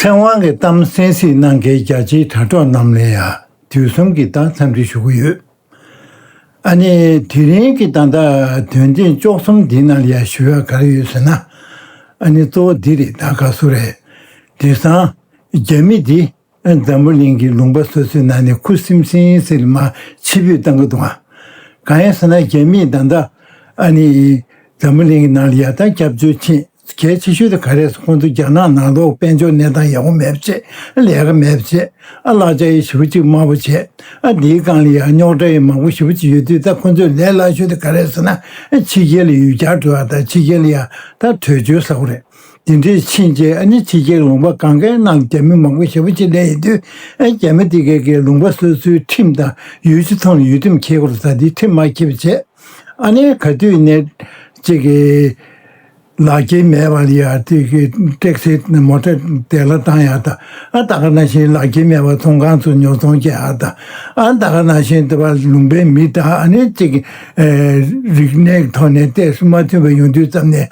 ཚེ་དབང་གི་གཏམ་གསན་གཟིགས་གནང་མཁན་རྒྱ་ཆེའི་དྲ་གྲོགས་རྣམས་ལ་ཡང་དུས་གསུམ་གྱི་བདག་འཚམས་འདྲི་ཞུ་གི་ཡོད། ཨ་ནེ། དེ་རིང་གི་དང་ཐག་དོན་རྐྱེན་ལྕོགས་གསུམ་འདི་ནང་ལ་ཡང་ཞུ་ཡག་ག་རེ་ཡོད་ཟེར་ན། ཨ་ནེ་གཙོ་བོ་འདི་རེད་ད་ག་སུ་རེད། དེ་སང། རྒྱ་མི་འདི་འཛམ་བུ་གླིང་གི་ལུང་པ་སོ་སོའི་ནང་ནས་ཁུ་སིམ་སིམ་སིལ་མ་ཕྱི་བུད་བཏང་གི་འདུག་ཨང། གང་ཡིན་ཟེར་ན་རྒྱ་མིས་ད་ལྟ་ཨ་ནི་འཛམ་བུ་གླིང་གི་ནང་ལ་ཡར་ཐོན་སྐྱབས་བཅོལ་ཆེད་གལ་ཆེ་ཤོས་དེ་ག་རེད་ཟེར་ཁོང་ཚོ་རྒྱ་ནག་ནང་ལོག་དཔལ་འབྱོར་གནས་སྟངས་ཡག་པོ་མེད་པ་བྱེད་ཨ་ལས་ཀ་མེད་པ་བྱེད་ཨ་ལག་ཆ་ཡི་ཞི་བུ་གཅིག་དམར་པོ་བྱེད་ཨ་འདིའི་སྒང་ལ་ཡང་རྙོག་དྲ་ཡི་མང་པོ་ཞི་བུ་གཅིག་ཡོད་དུས་ད་ཁོང་ཚོའི་ལས་སླ་ཤོས་དེ་ག་རེད་ཟེར་ན་ཕྱི་རྒྱལ་ལ་ཡུལ་གྱར་འགྲོ་བ་དང་ཕྱི་རྒྱལ་ལ་ཡང་ད་བྲོས་བྱོལ་ཟ་གོ་རེད། དེ་འདྲའི་ཕྱིན་རྗེས་ཨ་ནི་ཕྱི་རྒྱལ་ལུང་པ་གང་གཱའི་ནང་རྒྱ་མི་མང་པོ་ཞེ་པོ་ཆེ་བསྡད་ཡོད་དུས་ཨ་རྒྱ་མི་དེ་གས་གས་ལུང་པ་སོ་སོའི་ཁྲིམས་དང་ཡུལ་ཕྱི་ཐོང་ལ་ཡུལ་ཁྲིམས་འཁྱེར་དགོས་ལ་ད་དེའི་ཁྲིམས་མ་འཁྱེར་བ་བྱས། ཨ་ནི་ག་དུས་ནས་ཅིག་གིས་ལག་སྐྱེས་མེད་པ་ལ་ཡ་ཏི་གི་སྤྲེགས་སེ་མོ་ཏྲ་དེ་ལ་བཏང་ཡ་ད་ཨ་ད་ག་ན་བཞིན་ལག་སྐྱེས་མེད་པ་ཚོང་ཁང་ཚོ་ཉོ་ཚོང་བྱས་ཨ་ད་ཨ་ད་ག་ན་བཞིན་ད་བར་ལུང་པའི་མི་དང་ཨ་ནི་ཅིག་གིས་རིག་གནས་ཐོག་ནས་གཏད་སོ་མ་མཐུན་པ་ཡོང་དུས་ཙམ་ནས་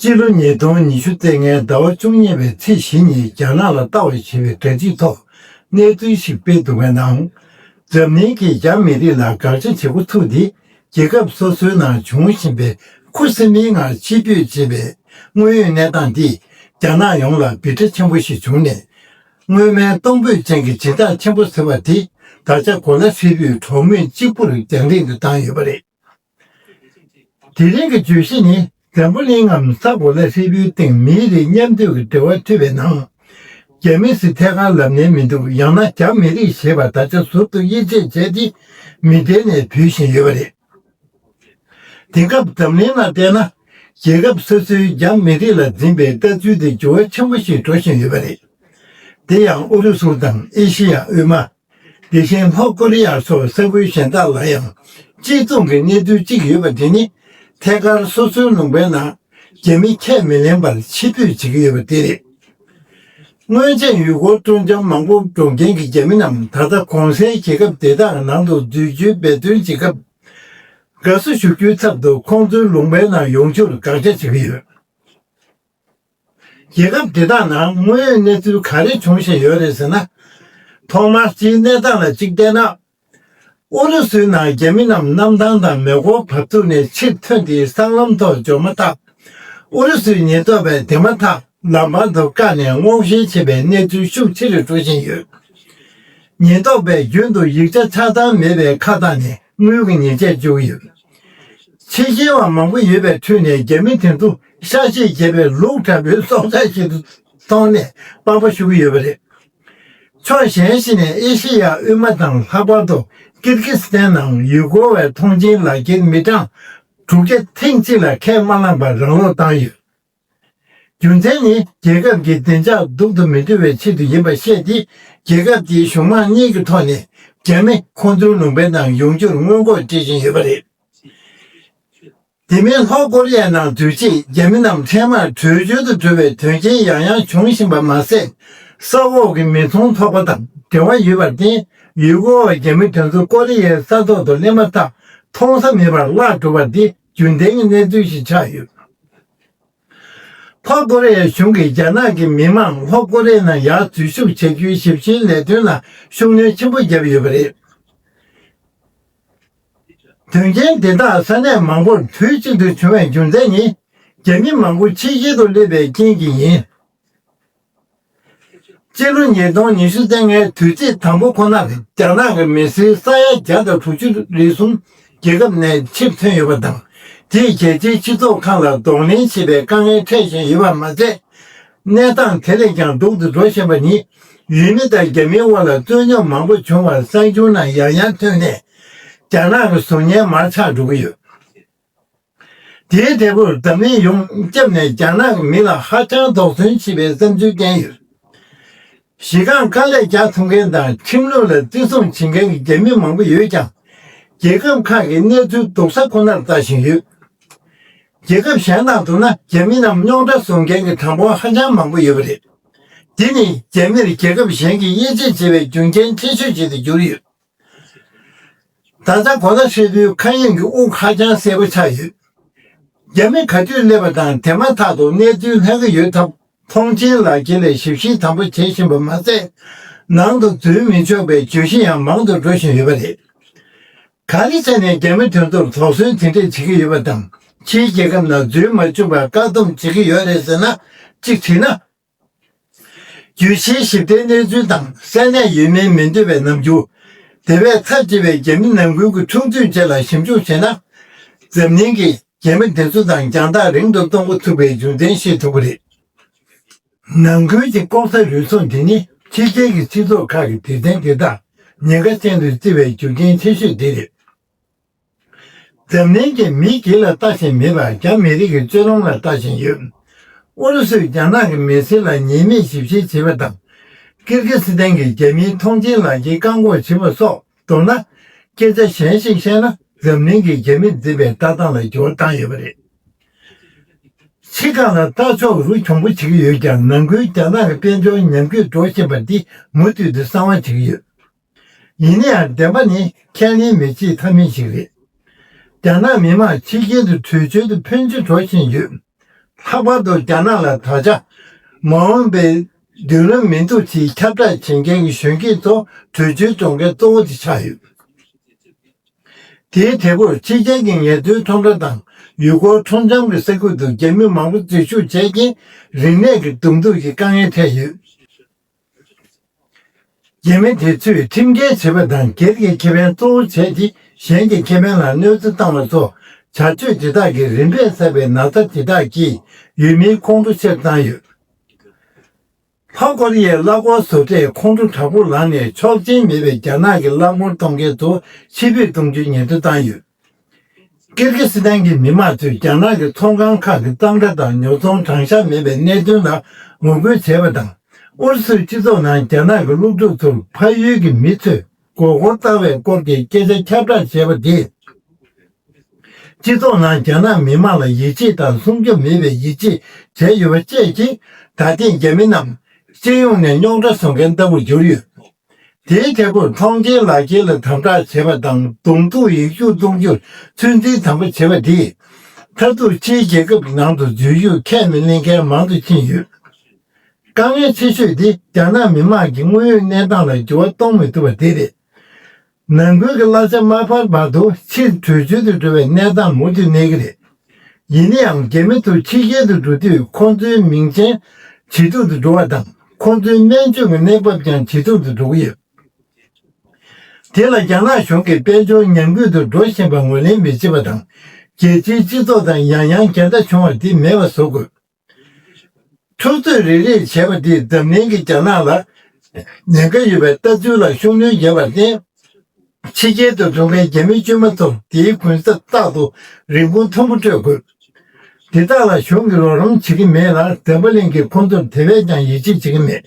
སྤྱི་ལོ་ཉིས་སྟོང་ཉི་ཤུ་ཚེས་ལྔའི་ཟླ་བ་བཅུ་གཉིས་པའི་ཚེས་བཞི་ཉིན་རྒྱ་ནག་ལ་ལྟ་བ་ཞེས་པའི་སྒྲ་སྤྱིའི་ཐོག་གནས་ཚུལ་ཞིག་སྤེལ་འདུག་པའི་ནང། འཛམ་གླིང་གིས་རྒྱ་མི་རིགས་ལ་དགག་བྱ་བྱེད་འགོ་ཚུགས་ཏེ་རྒྱལ་ཁབ་སོ་སོའི་ནང་འབྱུང་བཞིན་པའི་ཁུ་སིམ་མེའི་ངང་ཕྱི་བསྐྱོད་བྱེད་པའི་དངོས་ཡོད་གནས་སྟངས་འདིས་རྒྱ་ནག་ཡོངས་ལ་སྦིར་སྒྲ་ཆེན་པོ་ཞིག་བྱུང་ནས། སྔོན་མའི་གཏོང་ཕོད་ཅན་གྱི་སྦྱིན་བདག་ཆེན་པོ་ཟེར་བ་དེ་ད་ཆ་གོ་ལ་ཧྲིལ་པོས་གྲོགས་མོས་གཅིག་པུར་རྒྱང་རིང་དུ་བཏང་ཡོད་པ་རེད། དེ་རིང་གི་བརྗོད་གཞི་ནི་འཛམ་བུ་གླིང་ངམ་ས་གོ་ལ་ཧྲིལ་པོའི་སྟེང་མིའི་རིགས་མཉམ་སྡོད་ཀྱི་འབྲེལ་བ་མཐུད་པའི་ནང། རྒྱ་མི་སི་ཐད་ཁ་ལབ་ནས་མི་འདུག་ཡང་ན་རྒྱ་མི་རིགས་ཞེས་པ་ད་ཆ་ཟུར་དུ་དབྱེ་འབྱེད་བྱས་ཏེ་མི་སྒྲིལ་ནས་བུད་བཞིན་ཡོད་པ་རེད། དེང་སྐབས་འཛམ་གླིང་ནང་བལྟས་ན་རྒྱལ་ཁབ་སོ་སོའི་རྒྱ་མི་རིགས་ལ་འཛིན་པའི་ལྟ་ཚུལ་དེ་འགྱུར་བ་ཆེན་པོ་ཞིག་འགྲོ་བཞིན་ཡོད་པ་རེད། དེ་ཡང་ཨུ་རུ་སུ་དང་ཨེ་ཤི་ཡ་དབུས་མ། དེ་བཞིན་ལྷོ་ཀོ་རི་ཡ་སོགས་ས་ཁུལ་གཞན་དག་ལ་ཡང་གཅིག་མཚུངས་ཀྱི་གནས་ཚུལ་གཅིག་ཡོད་པ་དེ་ནི་ཐད་ཀར་སོ་སོའི་ལུང་པའི་ནང་རྒྱ་མི་ཁས་མི་ལེན་པར་ཕྱི་ཕུད་བྱེད་ཀྱི་ཡོད་པ་དེ་རེད། སྔོན་ཆད་ཡུལ་སྐོར་ཀྲུང་ལྕམ་མང་པོ་འགྲོ་མཁན་གྱི་རྒྱ་མི་རྣམས་ད་ལྟ་གོང་གསལ་གྱི་སྐབས་དེ་དག་ནང་དུ་འཛུལ་རྒྱུའི་འབད་བརྩོན་བྱེད་སྐབས། དགའ་བསུ་ཞུ་རྒྱུའི་ཚབ་ཏུ་ཁོང་ཚོའི་ལུང་པའི་ནང་ཡོང་རྒྱུར་དགག་བྱ་བྱེད་ཀྱི་ཡོད། རྒྱལ་ཁབ་དེ་དག་ནང་དངོས་ཡོད་གནས་ཚུལ་ག་རེ་འབྱུང་བཞིན་ཡོད་རེད་ཟེར་ན། ཐོག་མར་སྤྱིའི་གནས་སྟངས་ལ་གཅིག་བལྟས་ན། ཨུ་རུ་སུའི་ནང་རྒྱ་མི་རྣམས་གནམ་ཐང་དང་མེ་འཁོར་བབས་ཚུགས་ནས་ཕྱིར་ཐོན་ཏེ་སྲང་ལམ་ཐོག་འབྱོར་མ་ཐག་ཨུ་རུ་སུའི་ཉེན་རྟོག་པས་དེ་མ་ཐག་ལམ་བར་དུ་བཀག་ནས་སྔོག་བཤེར་བྱེད་པའི་གནས་ཚུལ་ཤུགས་ཆེ་རེ་སྤྲོད་བཞིན་ཡོད། ཉེན་རྟོག་པས་རྒྱུན་དུ་ཡིག་ཆ་ཆགས་སྡང་མེད་པའི་ཁ་བཏགས་ནས་དངུལ་གྱི་ཉེས་ཆད་གཅོད་ཀྱི་ཡོད། ཚིག་གཞན་བ་མང་པོ་ཡོད་པའི་ཁྲོད་ནས་རྒྱ་མི་དེ་ཚོ་ཤ་ཤེད་རྒྱས་པའི་ལུག་ཁྲ་བོའི་སྲོག་ཆགས་ཤིག་ཏུ་མཐོང་ནས་དཔའ་བོ་ཞུ་གི་ཡོད་པ་རེད། ཕྱོགས་གཞན་ཞིག་ནས་ཨེ་ཤེ་ཡ་དབུས་མ་དང་ལྷག་པར་དུ་ཀིར་ཀི་སི་ཐན་ནང་ཡུལ་སྐོར་བའི་མཐོང་མཆན་ལག་འཁྱེར་མི་གྲངས་དྲུག་བརྒྱ་ཐེངས་གཅིག་ལ་ཁས་མ་བླངས་པར་རང་ལོག་བཏང་ཡོད། རྒྱུ་མཚན་ནི་རྒྱལ་ཁབ་ཀྱི་བདེ་འཇགས་སྡུག་ཏུ་མི་འགྲོ་བའི་ཆེད་དུ་ཡིན་པར་བཤད་དེ། རྒྱལ་ཁབ་ཀྱིས་གཞུང་མང་གཉིས་ཀྱི་ཐོག་ནས་རྒྱ་མི་ཁོང་ཚོའི་ལུང་པའི་ནང་ཡོང་རྒྱུར་སྔོན་འགོག་བྱེད་བཞིན་ཡོད་པ་རེད། དེ་མིན་ལྷོ་ཀོ་རི་ཡའི་ནང་དུས་ཕྱིས་རྒྱ་མི་རྣམས་འཕྲལ་མར་བྲོས་བྱོལ་དུ་འགྲོ་བའི་དོན་རྐྱེན་ཡང་ཡང་འབྱུང་བཞིན་པ་མ་ཟད། ས་འོག་གི་མི་ཚོང་ཚོགས་པ་དང་འབྲེལ་བ་ཡོད་པར་བརྟེན་ཡུལ་སྐོར་བ་རྒྱ་མི་དེ་ཚོ་ཀོ་རི་ཡའི་ས་ཐོག་ཏུ་སླེབས་མ་ཐག་མཐོང་ས་མེད་པར་བརླག་འགྲོ་བ་འདི་རྒྱུན་ལྡན་གྱི་གནས་ཚུལ་ཞིག་ཆགས་ཡོད། ལྷོ་ཀོ་རེ་ཡའི་གཞུང་གིས་རྒྱ་ནག་གི་མི་མང་ལྷོ་ཀོ་རེ་ཡའི་ནང་ཡར་འཛུལ་ཞུགས་བྱེད་རྒྱུའི་ཞིབ་བཤེར་ལས་དོན་ལ་ཤུགས་སྣོན་ཆེན་པོ་བརྒྱབ་ཡོད་པ་རེད། དོན་རྐྱེན་དེ་དག་ས་གནས་མང་པོར་དུས་གཅིག་ཏུ་བྱུང་བའི་རྒྱུ་མཚན་ནི། རྒྱ་མི་མང་པོ་ཕྱི་རྒྱལ་དུ་སླེབས་པའི་རྐྱེན་གྱིས་ཡིན། སྤྱི་ལོ་ཉིས་སྟོང་ཉི་ཤུ་ཚན་ལྔའི་དུས་ཚིགས་དང་པོ་ཁོ་ནར་རྒྱ་ནག་གི་མི་སེར་ས་ཡ་བརྒྱ་དང་དྲུག་ཅུ་རེ་ཟུང་རྒྱལ་ཁབ་ནས་ཕྱིར་ཐོན་ཡོད་པ་དང། དེས་རྒྱལ་སྤྱིའི་སྤྱི་ཚོགས་ཁང་ལ་གདོང་ལེན་བྱེད་པའི་དཀའ་ངལ་འཕྲད་བཞིན་ཡོད་པ་མ་ཟད། གནས་སྟངས་དེ་ལས་ཀྱང་སྡུག་ཏུ་འགྲོ་བཞིན་པ་ནི། ཡུལ་མི་དང་རྒྱ་མིའི་དབར་ལ་རྩོད་རྙོག་མང་པོ་བྱུང་བར་གསར་འགྱུར་ནང་ཡང་ཡང་ཐོན་ནས། རྒྱ་ནག་གི་གཟུགས་བརྙན་མར་ཆག་འགྲོ་གི་ཡོད། དེའི་འབྲས་བུར་འཛམ་གླིང་ཡོངས་སྐྱབས་ནས་རྒྱ་ནག་མི་ལ་ཧ་ཅང་དོགས་ཟོན་བྱེད་པའི་བསམ་ཚུལ་བསྟན་ཡོད། གཞི་རྐང་དཀའ་ལས་རྒྱག་ཐུབ་མཁན་དང་ཁྲིམས་ལུགས་ལ་བརྩི་སྲུང་བྱེད་མཁན་གྱི་རྒྱ་མི་མང་པོ་ཡོད་ཀྱང། རྒྱལ་ཁབ་ཁག་གི་གནས་ཚུལ་སྡུག་ས་ཁོ་ནར་ལྟ་བཞིན་ཡོད། རྒྱལ་ཁབ་གཞན་དང་བསྡུར་ན་རྒྱ་མི་རྣམས་རྙོག་དྲ་བཟོ་མཁན་གྱི་གྲངས་འབོར་ཧ་ཅང་མང་པོ་ཡོད་པ་རེད། འདི་ནི་རྒྱ་མིར་རྒྱལ་ཁབ་གཞན་གྱིས་དབྱེ་འབྱེད་བྱེད་པའི་རྒྱུ་རྐྱེན་ཆེ་ཤོས་ཤིག་ཏུ་གྱུར་ཡོད། ད་ལྟ་གོ་ལ་ཧྲིལ་པོའི་མཁའ་དབྱིངས་ཀྱི་དབུགས་ཧ་ཅང་གསལ་པོ་ཆགས་ཡོད། རྒྱ་མི་ག་དུས་སླེབས་པ་དང་དེ་མ་ཐག་ཏུ་གནས་ཚུལ་ལྷག་གི་ཡོད་སྟབས་ཐོངས་མཆན་ལག་འཁྱེར་ལས་ཞིབ་བཤེར་དམ་པོ་བྱེད་བཞིན་པ་མ་ཟད། ནང་དུ་འཛུལ་མི་ཆོག་པའི་བརྗོད་གཞི་ཡང་མང་དུ་འགྲོ་བཞིན་ཡོད་པ་རེད། ག་ལི་ཚ་ནས་རྒྱ་མི་དེ་ཚོར་དོགས་ཟོན་དེ་འདྲས་བྱེད་ཀྱི་ཡོད་པ་དང་ཕྱིའི་རྒྱལ་ཁབ་ནང་འཛུལ་མ་བཅུག་པར་བཀག་སྡོམ་བྱེད་ཀྱི་ཡོད་རེད་ཟེར་ན་གཅིག་དྲིས་ན་རྒྱུད་ཆེན་བཞི་བརྟན་གནས་ཚུལ་དང་གསལ་གནས་ཡོད་མིན་མི་འདོད་པའི་རྣམ་འགྱུར། དེ་བས་ཚབས་ཆེ་བའི་རྒྱ་མི་ནང་ཁུལ་གྱི་འཁྲུག་རྩོད་བཅས་ལ་ཞིབ་འཇུག་བྱས་ན། འཛམ་གླིང་གིས་རྒྱ་མི་འདི་ཚོ་དང་རྒྱང་ཐག་རིང་དུ་གཏོང་འགོ་ཚུགས་པའི་རྒྱུ་མཚན་ཤེས་ཐུབ་པ་རེད། ནང་ཁུལ་གྱི་ལྐོག་ཟ་རུལ་སུངས་འདི་ནི་ཕྱི་རྒྱལ་གྱི་སྤྱི་ཚོགས་ཁག་གི་དེ་ཚན་དེ་དག་ཉེན་ཁ་ཅན་དུ་བརྩི་བའི་རྒྱུ་རྐྱེན་ཆེ་ཤོས་དེ་རེད། འཛམ་གླིང་གི་མིའི་རྒྱུད་ལ་ལྟ་བཞིན་མེད་པར་རྒྱ་མི་རིགས་ཀྱི་སྤྱོད་ལམ་ལ་ལྟ་བཞིན་ཡོད། ཨུ་རུ་སུས་རྒྱ་ནག་གི་མི་སེར་ལ་ཉེས་མེད་ཞིབ་བཤེར་བྱེད་པ་དང། ཀིར་ཀི་སི་ཐན་གྱི་རྒྱ་མིའི་མཐོང་མཆན་ལག་འཁྱེར་བཀག་འགོག་བྱེད་པ་སོགས་མདོར་ན། སྐད་ཆ་གཞན་ཞིག་བཤད་ན་འཛམ་གླིང་གི་རྒྱ་མིར་འཛིན་པའི་ལྟ་སྟངས་ལ་འགྱུར་བ་བཏང་ཡོད་པ་རེད། ཕྱི་རྐང་ལ་ལྟ་ཕྱོགས་རུ་གྱོང་པོ་བྱེད་ཀྱི་ཡོད་ཀྱང་ནང་ཁུལ་རྒྱ་ནག་གི་དཔལ་འབྱོར་ཉམས་རྒུད་འགྲོ་བཞིན་པ་འདི་མུ་མཐུད་དུ་གསང་བ་བྱེད་ཀྱི་ཡོད། ཡིན་ན་ཡང་བདེན་པ་ནི་ཁས་ལེན་མི་བྱེད་ཐབས་མེད་ཅིག་རེད། རྒྱ་ནག་མི་དམངས་ཕྱི་རྒྱལ་དུ་བྲོས་བྱོལ་དུ་ཕོན་ཆེ་འགྲོ་བཞིན་ཡོད། ལྷག་པར་དུ་རྒྱ་ནག་ལ་ད་ཆ་མ་འོངས་པའི་མདུན་ལམ་མི་འདུག་ཅེས་ཁྱབ་བསྒྲགས་བྱེད་མཁན་གྱི་གཞོན་སྐྱེས་ཚོ་བྲོས་བྱོལ་གཏོང་མཁན་གཙོ་བོ་དེ་ཆགས་ཡོད། དེའི་དེ་ཕོར་ཕྱི་རྒྱལ་གྱི་ངལ་རྩོལ་ཁྲོམ་ར་དང་ཡུལ་སྐོར་ཁྲོམ་གཞམ་གྱི་ས་ཁུལ་དུ་རྒྱ་མི་མང་པོ་འཛུལ་ཞུགས་བྱས་རྐྱེན་རིག་གནས་ཀྱི་གདུག་རྩུབ་ཀྱི་དཀའ་ངལ་འཕྲད་ཡོད། འགན་མི་དེ་ཚོས་ཁྲིམས་འགལ་བྱེད་པ་དང་སྒེར་གྱི་ཁེ་ཕན་གཙོ་བོ་བྱས་ཏེ་གཞན་གྱི་ཁེ་ཕན་ལ་གནོད་འཚེ་བཏང་བ་སོགས་བྱ་སྤྱོད་དེ་དག་གི་རིམ་པས་བསགས་པའི་ན་ཚ་དེ་དག་གིས་ཡུལ་མིའི་ཁོང་ཁྲོ་ཆེར་བཏང་ཡོད། ལྷོ་ཀོ་རི་ཡའི་གླ་ཀོར་བཟོ་གྲྭས་ཁོང་ཁྲོ་དྲག་པོ་ལངས་ནས་ཆོག་མཆན་མེད་པའི་རྒྱ་ནག་གི་གླ་ཀོར་གཏོང་མཁན་ཚོ་ཕྱིར་ཕུད་གཏོང་རྒྱུའི་ཉེན་བརྡ་བཏང་ཡོད། ཀིར་གྷི་སི་ཐན་གྱི་མི་དམངས་ཚོས་རྒྱ་ནག་གི་ཚོང་ཁང་ཁག་གི་གཙང་སྦྲ་དང་ཉོ་ཚོང་དྲང་གཞག་མེད་པའི་གནད་དོན་ལ་ངོ་རྒོལ་བྱས་པ་དང། ཨུ་རུ་སུའི་སྤྱི་ཚོགས་ནང་རྒྱ་ནག་གི་སློབ་ཕྲུག་ཚོར་ཕ་ཡུལ་གྱི་མི་ཚོས་མགོ་སྐོར་བཏང་བའི་སྐོར་གྱི་སྐད་ཆ་ཁྱབ་བསྒྲགས་བྱས་པ་དེས། སྤྱི་ཚོགས་ནང་རྒྱ་ནག་མི་དམངས་ལ་ཡིད་ཆེས་དང་སྲུང་སྐྱོབ་མེད་པའི་ཡིད་ཆེས་བྱས་ཡོད་པ་བཅས་ཀྱིས་ད་ཐེངས་རྒྱ་མི་རྣམས་སྤྱི་ཡོངས་ནས་རྙོག་དྲ་བཟོ་མཁན་ལྟ་བུར་གྱུར་ཡོད། དེའི་རྒྱབ་སྐོར་མཐོང་ཆེན་ལག་འཁྱེར་ལ་དམ་དྲག་བྱེད་པ་དང་གདོང་ཐུག་ཡིག་རྒྱུགས་གཏོང་རྒྱུར་ཚོད་འཛིན་དམ་པོ་བྱེད་པ་འདིས། མཐར་གཏུག་ཕྱིའི་རྒྱལ་ཁབ་ཀྱི་ནང་དུ་རྫུན་བཤུས་ཁས་མི་ལེན་མཁན་མང་དུ་ཕྱིན་ཡོད། དཀའ་ངལ་ཆེ་ཤོས་དེ་རྒྱ་ནག་མི་དམངས་ཀྱི་དངོས་ཡོད་གནས་སྟངས་ལ་འགྱུར་བ་གཏོང་མི་ཐུབ་པ་དེ་རེད། ནང་ཁུལ་གྱི་གླ་ཆ་མ་འཕར་བར་དུ་ཕྱིར་བྲོས་བྱོལ་དུ་འགྲོ་བའི་གནས་སྟངས་མུ་མཐུད་གནས་ཀྱི་རེད། ཡིན་ན་ཡང་རྒྱ་མི་ཚོ་ཕྱི་རྒྱལ་དུ་འགྲོ་དུས་ཁོང་ཚོའི་མིང་ཅན་ཇེ་སྡུག་ཏུ་འགྲོ་བ་དང་ཁོང་ཚོའི་སྨན་བཅོས་ཀྱི་གནས་བབ་ཀྱང་ཇེ་སྡུག་ཏུ་འགྲོ་གི་ཡོད། དེ་ལ་རྒྱ་ནག་གཞུང་གིས་དཔལ་འབྱོར་ཉམས་རྒུད་དུ་འགྲོ་བཞིན་པ་ངོས་ལེན་མི་བྱེད་པ་དང་རྒྱལ་སྤྱིའི་སྤྱི་ཚོགས་དང་ཡང་ཡང་འགལ་ཟླ་བྱུང་བ་འདི་མེད་པ་བཟོ་དགོས། འཁྱོག་བརྫོད་རེ་རེ་བྱས་པ་དེས་འཛམ་གླིང་གི་རྒྱ་ནག་ལ་ཉེན་ཁ་ཡོད་པའི་ལྟ་ཚུལ་ལ་ཤུགས་སྣོན་བརྒྱབ་པར་བརྟེན། ཕྱི་རྒྱལ་དུ་འགྲོ་མཁན་རྒྱ་མི་དཀྱུས་མ་ཚོ་དེའི་གུན་གསབ་རྟག་ཏུ་རིན་གོང་མཐོན་པོ་སྤྲོད་དགོས། དེ་དག་ལ་གཞུང་གིས་རོགས་རམ་བྱེད་ཀྱི་མེད་ལ་འཛམ་བུ་གླིང་གིས་ཁོ་ཚོར་དེ་བས་ཀྱང་ཡིད་ཆེས་བྱེད་ཀྱི་མེད།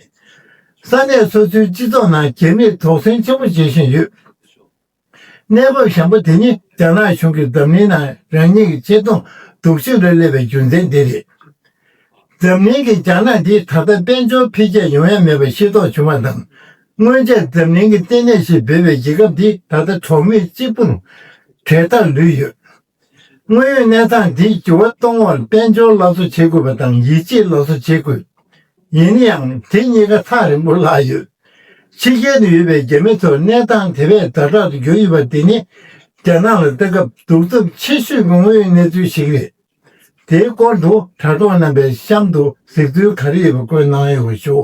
ས་གནས་སོ་སོའི་སྤྱི་ཚོགས་ནང་རྒྱ་མིས་དོགས་ཟོན་ཆེན་པོ་བྱེད་བཞིན་ཡོད། གནས་བབ་བཟང་པོ་དེ་ནི་རྒྱ་ནག་གཞུང་གིས་འཛམ་གླིང་ནང་རང་ཉིད་ཀྱི་ཆེ་མཐོང་སྡུག་ཤིང་རེ་སླེབས་པའི་རྒྱུ་མཚན་དེ་རེད། འཛམ་གླིང་གིས་རྒྱ་ནག་འདི་ད་ལྟ་དཔལ་འབྱོར་འཕེལ་རྒྱས་ཡོང་ཡ་མེད་པ་ཤེས་རྟོགས་བྱུང་བ་དང། སྔོན་ཆད་འཛམ་གླིང་གི་ལྟེ་གནས་ཞེས་འབོད་པའི་རྒྱལ་ཁབ་འདི་ད་ལྟ་གྲོགས་མེད་གཅིག་པུར་གྲལ་མཐར་ལུས་ཡོད། དངོས་ཡོད་གནས་སྟངས་འདིས་འགྱུར་བ་གཏོང་བར་དཔལ་འབྱོར་སླར་གསོ་བྱེད་དགོས་པ་དང་ཡིད་ཆེས་སླར་གསོ་བྱེད་དགོས། ཡིན་ཡང་དེ་གཉིས་ཀ་ཐག་རིང་པོ་ལྷག་ཡོད། ཕྱི་རྒྱལ་དུ་ཡོད་པའི་རྒྱ་མི་ཚོར་གནས་སྟངས་དེ་བས་ཟླ་དྲག་ཏུ་གྱུར་ཡོད་པ་འདི་ནི་རྒྱ་ནག་ལ་ལྟ་སྐབས་གདུག་རྩུབ་ཆེ་ཤོས་ཀྱི་དངོས་ཡོད་གནས་ཚུལ་ཞིག་རེད། དེའི་སྐོར་དུ་དྲ་གྲོགས་རྣམ་པས་གཤམ་དུ་གཟིགས་ཚུལ་ག་རེ་ཡོད་པ་བཀོད་གནང་ཡོད་ཞུ།